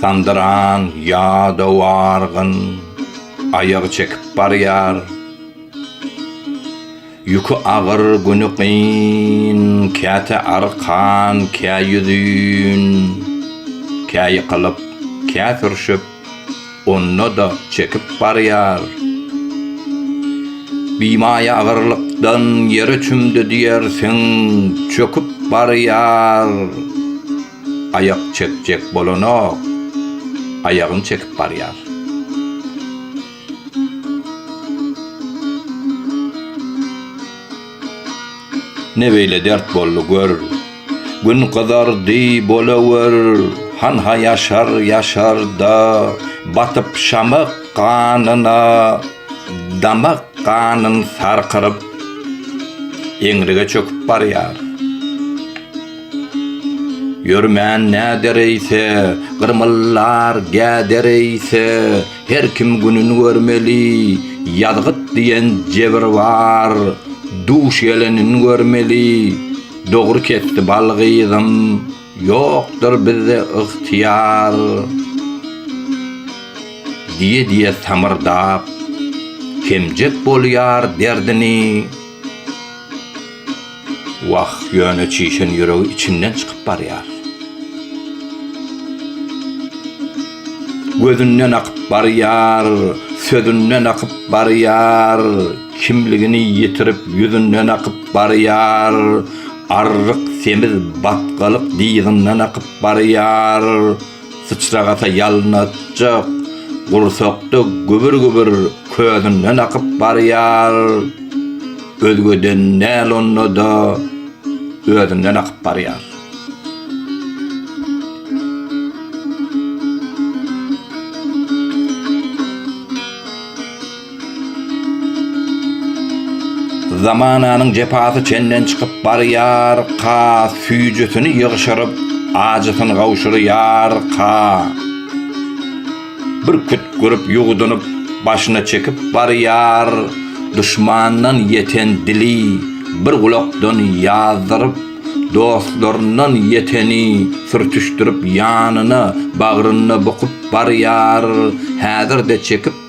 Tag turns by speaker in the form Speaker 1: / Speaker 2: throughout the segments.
Speaker 1: Sandyran ýadaw argyn aýagy çekip barýar. Ýüki agyr, güni kyn, käte arkan, kä ýüzin, kä ýykylyp, kä sürşüp, onda-da çekip barýar. Bimaýa agyrlykdan ýere çümdi diýersiň, çöküp barýar. Aýak çekjek bolanok. Aýagyny çekip barýar. Ne beýle dert boldy gör. Gün gyzardy bolawer. Hanha ýaşar ýaşar-da, batyp şamak ganyna, damak ganyn sarkyryp, eňrige çöküp barýar. Ýörmän näder eýse, gyrmyllar gäder eýse, Her kim günün görmeli, ýazgyt diýen jebir bar. Duş gelenin görmeli, dogry kesdi bal gyzym, Ýokdur bizde ygtyýar. Diýe-diýe samyrdap, kemjek bolýar derdini. Wah, ýöne çişen ýüregi içinden çykyp barýar. Gözünden akyp barýar, sözünden akyp barýar, kimligini ýitirip, ýüzünden akyp barýar, arryk, semiz, batgalyk dyzyndan akyp barýar. Syçrak ata ýalňyzjyk gursakda gübür-gübür közünden akyp barýar. Özgeden däl onda-da özünden akyp barýar. Zamananyň jepasy çenden çykyp barýar, ka, Süýjüsini ýygşyryp, ajysyn gawşurýar, ka, Bir kütgürip, ýuwdunyp, başyna çekip barýar, Duşmandan ýeten dili bir gulakdan ýazdyryp, Dostlaryndan ýeteni sürtüşdirip ýanyna, Bagrynda bukup barýar, häzir-de çekip,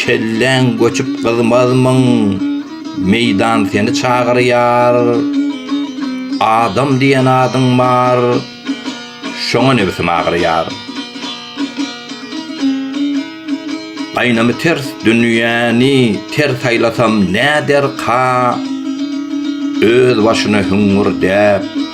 Speaker 1: Kelläň göçüp gyzmazmyň, meýdan seni çagyrýar. Adam diýen adyň bar, şoňa nebsim agyrýar. Gaýnamy ters dünýäni ter saýlasam näderka, öz başyna hüňňürdäp,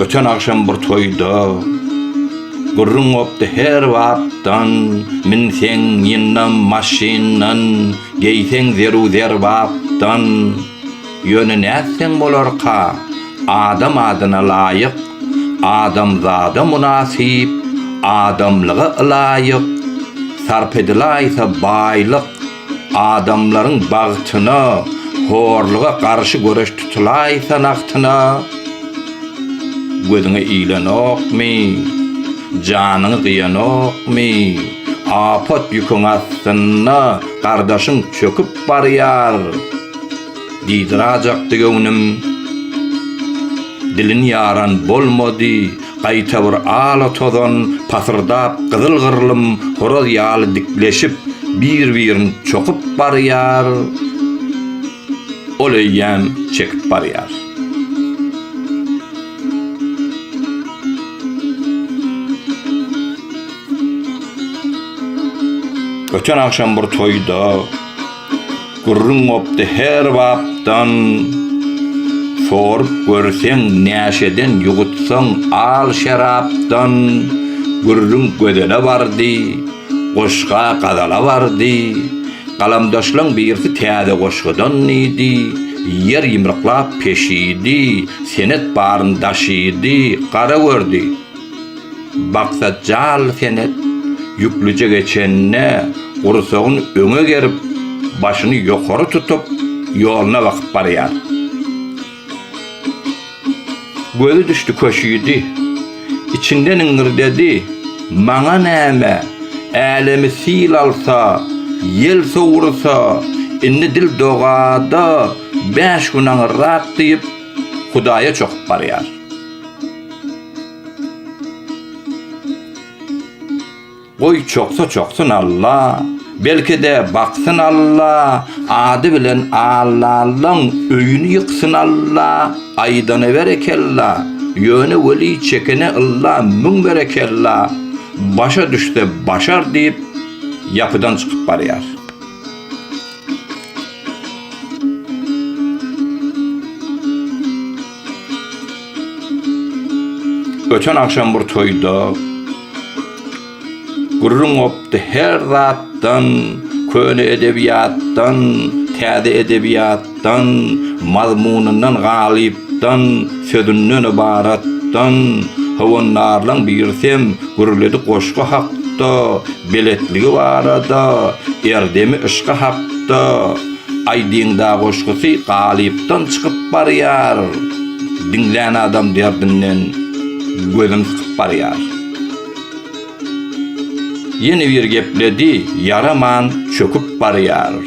Speaker 1: Öten agşam bir toýda Gürrüň gopdy her bapdan Min seň ýyndam maşyndan Geýseň zeru zerbapdan Ýöne nätseň bolarka Adam adyna laýyk Adamzada mynasyp Adamlyga ylaýyk Sarp edilaýsa baýlyk Adamlaryň bagtyna, horluga garşy göreş tutulaýsa nagtyna, gözüňe ilenokmy, janyňy gyýanokmy, apat ýüküň astynda gardaşyň çöküp barýar, Dyzrajakdy göwnüm. Dilin ýaran bolmady, gaýta bir ala-tozan, pasyrdap gyzyl-gyrlym horaz ýaly dikleşip, bir-birin çokup barýar, ol eýýäm çekip barýar. Öten agşam bir toýda. Gürrüň gopdy her bapdan Sorup görseň näşeden ýugutsaň al şerapdan Gürrüň gözele bardy Goşga gazala bardy Galamdaşlaň birsi täze goşgudan diýdi Ýer ýymryklap peşidi Senet baryn daşydy Gara gördi Baksat jaly senet ýüklüje geçenine gursagyn öňe gerip, başyny ýokary tutup, ýoluna bakyp barýar. Gözi düşdi köşidi. Içinden iňirdedi, Maňa näme, älemi sil alsa, ýel sowursa, indi dil dogada bäş gün aňyrrak diýip, Hudaýa çokup barýar. Goý çoksa çoksyn Alla, belki-de baksyn Alla, ady bilen Allallaň öýüni ýyksyn Alla, aýdana berekella, ýöne weli çekene ylla müň berekella, başa düşse başar diýip ýapydan çykyp barýar. Öten agşam bir toýda gürrüň gopdy, her zatdan, köne edebiýatdan, täze edebiýat. dan, mazmunyndan galyp, dan, sözünden ybarat, dan, howandarlaň birsem gürledi goşgy hak, da, beletligi barada, erdemi yşky hak, da, aýdyňdagoşgusy galypdan çykyp barýar, diňlän adam derdinden gözün sykyp barýar. Ýene bir gepledi, ýaraman çöküp barýar.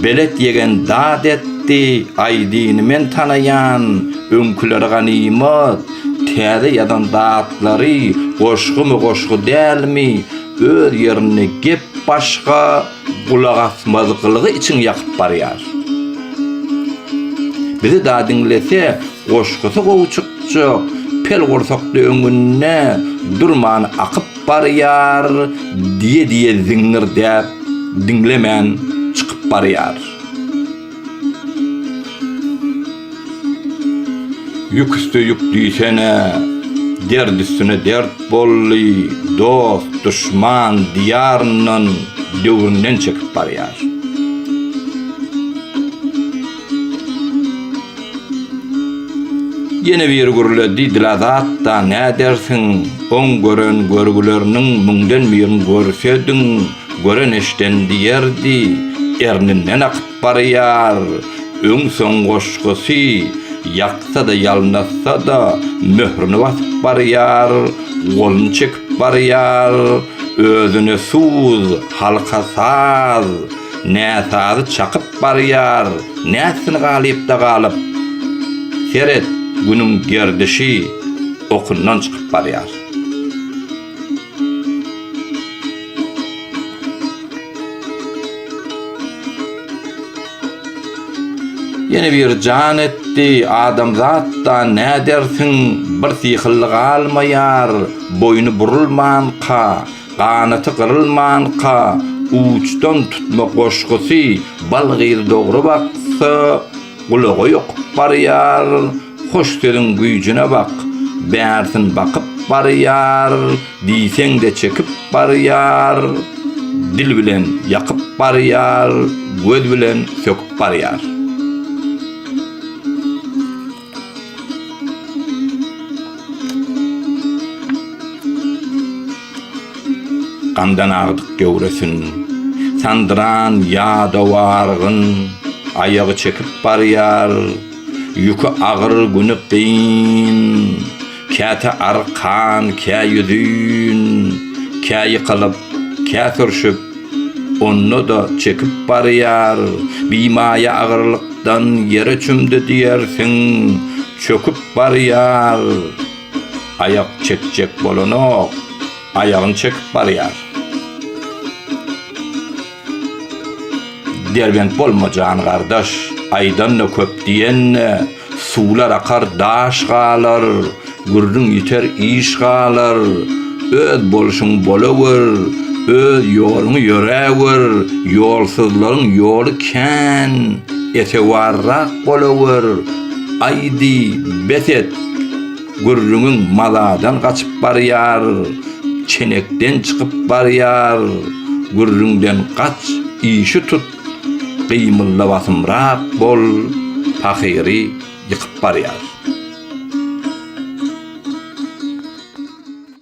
Speaker 1: Belet ýegen dad etdi, Aýdyny men tanaýan, öňküleri ganymat, täze ýazan datlary goşgumy-goşgy dälmi, öz ýerinde gep başga, Gulagasmazgylygy içiň ýakyp barýar. Bizi da diňlese goşgusy gowy çykjak pel gursakly öňünde durman akyp barýar diýe diýe ziňňirdäp diňlemän çykyp barýar. Ýük üste ýük düýsene, dert üstüne dert boldy, dost, duşman diýaryndan, döwründen çekip barýar. Ýene biri gürledi, Dilazat-da nädersiň, oň gören görgüleriniň müňden birini görsediň, Gören eşden diýerdi, erninden akyp barýar. Öň-soň goşgusy, ýaksa-da, ýalnatsa-da, möhrüni basyp barýar, goluny çekip barýar. Özüne suz, halka saz, näsazy çakyp barýar, nätsin galypda galyp. Seret, günüň gerdişi okyndan çykyp barýar. Ýene bir jan etdi, adamzatdan nädersiň, bir syhylly galmaýar, boýny burulmanka, ganaty gyrylmanka, uçdan tutma goşgusy, balgyzy dogry baksa, gulaga ýokup barýar. Hoş sözüň güýjüne bak, Bärsin bakyp barýar, Diýseň-de çekip barýar, Dil bilen ýakyp barýar, Göz bilen söküp barýar. Gandan agdyk göwresin, Sandyran ýadaw argyn, Aýagy çekip barýar, Ýüki agyr güni kyn, Käte arkan, kä ýüzin, Kä ýykylyp, kä sürşüp, Onda-da çekip barýar. Bimaýa agyrlykdan Ýere çümdi diýersiň, çöküp barýar. Aýak çekjek bolanok, Aýagyn çekip barýar. Derbent bolma jan gardaş, Aýdanda köp diýende, Suwlar akar daş galar, Gürrüň ýiter iş galar. Öz bolşuň bolawer, Öz ýoluňy ýöräwer, Ýolsuzlaryň ýoly kän, Etewarrak bolawer. Aýdy, bes et! Gürrüňiň maladan gaçyp barýar, çenekden çykyp barýar, gürrüňden gaç, işi tut, gymyldabasymrak bol, pahyry ýykyp barýar.